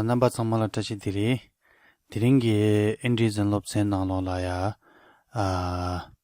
རྣམ་པ་ཚང་མ་ལ་བཀྲ་ཤིས་བདེ་ལེགས། དེ་རིང་གི་ཨིན་དྲིའི་རྫུན་སློབ་ཚན་ནང་ལོགས་ལ་ཡ།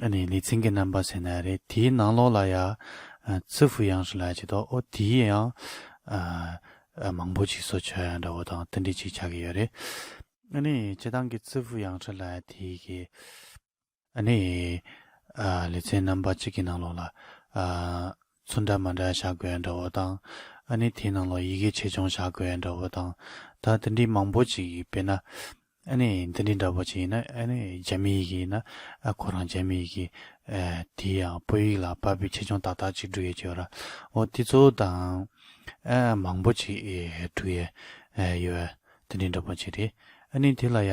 ཨ་ནི་ལི་ཚིང་གི་རྣམ་པ་ཟེར་ན་རེད་དེའི་ནང་ལོགས་ལ་ཡང་ཙི་ཧྥུ་ཡང་སུ་ལ་ཅིག་འདུག་ཨོ་དེའི་ཡང་མང་པོ་ཅིག་སོ་ཆོལ་ཡང་འདྲ་བོ་དང་ཏི་འདྲི་ཅིག་ཆགས་ཀྱི་ཡོད་རེད། ཨ་ནི་སྤྱི་བཏང་གི་ཙི་ཧྥུ་ཡང་སུ་ལ་དེའི་གི། ཨ་ནི་ལི་ཚིང་རྣམ་པ་གཅིག་གི་ནང་ལོགས་ལ། ཚུལ་འདྲ་མ་འདྲ་བྱ་དགོས་འདྲ་བོ་དང། ཨ་ནི་དེའི་ནང་ལོ་ཡི་གེ་ཆེ་ཆུང་བྱ་དགོས་འདྲ་བོ་དང། ད་འདི་འདྲའི་མང་པོ་ཅིག་ཡིན་པས་ན། ཨ་ནི་འདི་འདྲའི་འདྲ་བོ་ཅིག་ཡིན་ན་ཨ་ནི་རྒྱ་མི་ཡི་གེ་ཡིན་ན་ཨ་ཁོ་རང་རྒྱ་མི་ཡི་གེ། དེའི་ཡང་སྤོས་ཡིག་ལ་པ་པོའི་ཆེ་ཆུང་ཏག་ཏག་ཅིག་འབྲུ་ཡས་ཀྱི་ཡོད་ར་འོ་དེ་ཚོ་དང། ཨ་མང་པོ་ཅིག་འབྲུ་ཡས་ཡོད། འདི་འདྲའི་འདྲ་བོ་ཅིག་རེད་ཨ་ནི་དེ་ལ་ཡ།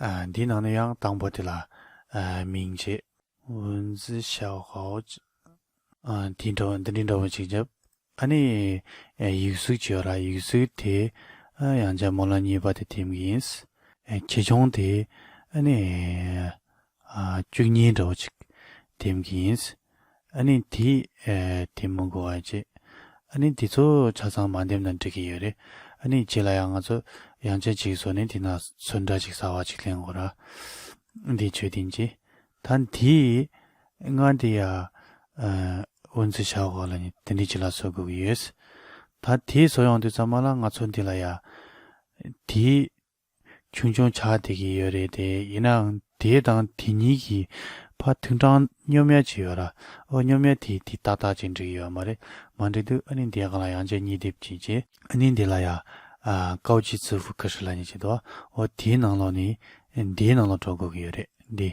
འདིའི་ནང་ན་ཡང་དང་པོ་དེ་ལ་མིང་བྱེད། ཝུན་ཛི་ཤའོ་ཧའོ། འདི་འདྲ་བོ་འདི་འདྲ་བོ་ཅིག་བྱབ། ཨ་ནི། ཡིག་གཟུགས་བྱོས་ལ་ཡིག་གཟུགས་དེ། ཡང་བྱ་མོ་ལ་གཉིས་པ་དེ་འཐིམ་གྱི་ཡིན། ཁྱི་ཆུང་དེ། ཨ་ནི། བཅུ་གཉིས་འདྲ་བོ་ཅིག་འདེམས་ཀྱི་ཡིན། ཨ་ནི་དེ། དེ་མི་འགོ་བ་རེད། ཨ་ནི་དེ་ཚོ་ཆ་ཚང་མ་འདེམས་ན་འགྲིག་གི་ཡོད་རེད། ཨ་ནི་རྗེས་ལ་ཡང་ང་ཚོ་ཡང་ཆ་གཅིག་བཟོ་ནས་དེ་ན་ཚོད་འདྲ་ཅིག་ཟ་བ་ཅིག་ལེན་དགོས་ར། འདི་ཆོས་བདེན་གྱི། ད་འདི། ང་འདི་ཡ། འུ་ཚོའི་ཤག་འོག་ལ་ནི་དེ་འདྲའི་བྱི་ལ་བཟོ་དགོས་ཀྱི་ཡོད། ད་དེ་བཟོ་ཡོང་དུས་ཚང་མ་ལ་ང་ཚོ་འདི་ལ་ཡ། དེ། ཆུང་ཆུང་ཆགས་བསྡད་ཀྱི་ཡོད་རེད་དེ་ཡིན་ནའང་དེའི་དང་དེ་གཉིས་ཀྱི་བར་ཐུན་དྲང་སྙོམ་ཡལ་གྱི་ཡོད་ར་ཨོ་སྙོམ་ཡལ་དེ་དེ་ཏག་ཏག་ཅིག་འགྲིག་ཡོད་མ་རེད་མ་འགྲིག་འདུག་ཨ་ནི་འདི་གང་ལ་ཡང་ཅེ་གཉིས་སྡེབ་ཅིག་བྱས། ཨ་ནི་འདི་ལ་ཡང་ཀའོ་ཅི་ཙི་ཧྥུ་ཀ་ཧྲི་ལ་གཉིས་བྱས་འདུག་ཨོ་དེའི་ནང་ལོགས་ནས་འདིའི་ནང་ལོགས་འགྲོ་དགོས་ཀྱི་ཡོད་རེད་འདི།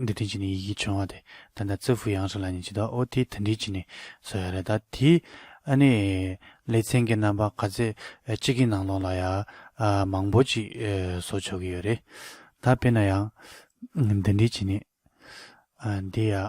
འདི་དོན་གྱི་ནི་ཡི་གེ་བྱུང་བ་དེ་ད་ད་ཙི་ཧྥུ་ཡང་ཧྲི་ལ་ནི་ཇི་ལྟར་ཨོ་དེའི་དོན་འདི་གྱི་ནི་སོ་ཡ་རེད་ད་དེའི་ཨ་ནི་ལེ་ཚན་གྱི་རྣམ་པ་ག་ཚད་གཅིག་གི་ནང་ལོགས་ལ་ཡ་མང་པོ་ཅིག་བཟོ་ཆོག་གི་ཡོད་རེད་ད་དཔེར་ན་ཡང་འདི་འདི་གྱི་ནི་འདི་ཡ་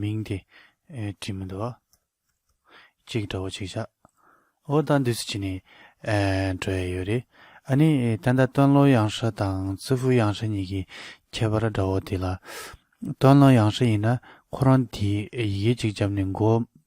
མིང་དེ། དྲི་མི་འདོ། གཅིག་འདྲ་བོ་ཅིག་བྱ། འོ་ད་འདི་སུ་བྱས་ནས། འགྲོ་ཡས་ཡོད་རེད། ཨ་ནི། ད་ལྟ་སྟོན་ལོ་གཡང་ཧྲ་དང་ཙི་ཧྥུ་གཡང་ཧྲ་གཉིས་ཀྱི་ཁྱད་པར་འདྲ་བོ་དེ་ལ། སྟོན་ལོ་གཡང་ཧྲ་ཡིན་ན་ཁོ་རང་དེའི་ཡི་གེ་གཅིག་བརྒྱབ་ནས་མགོ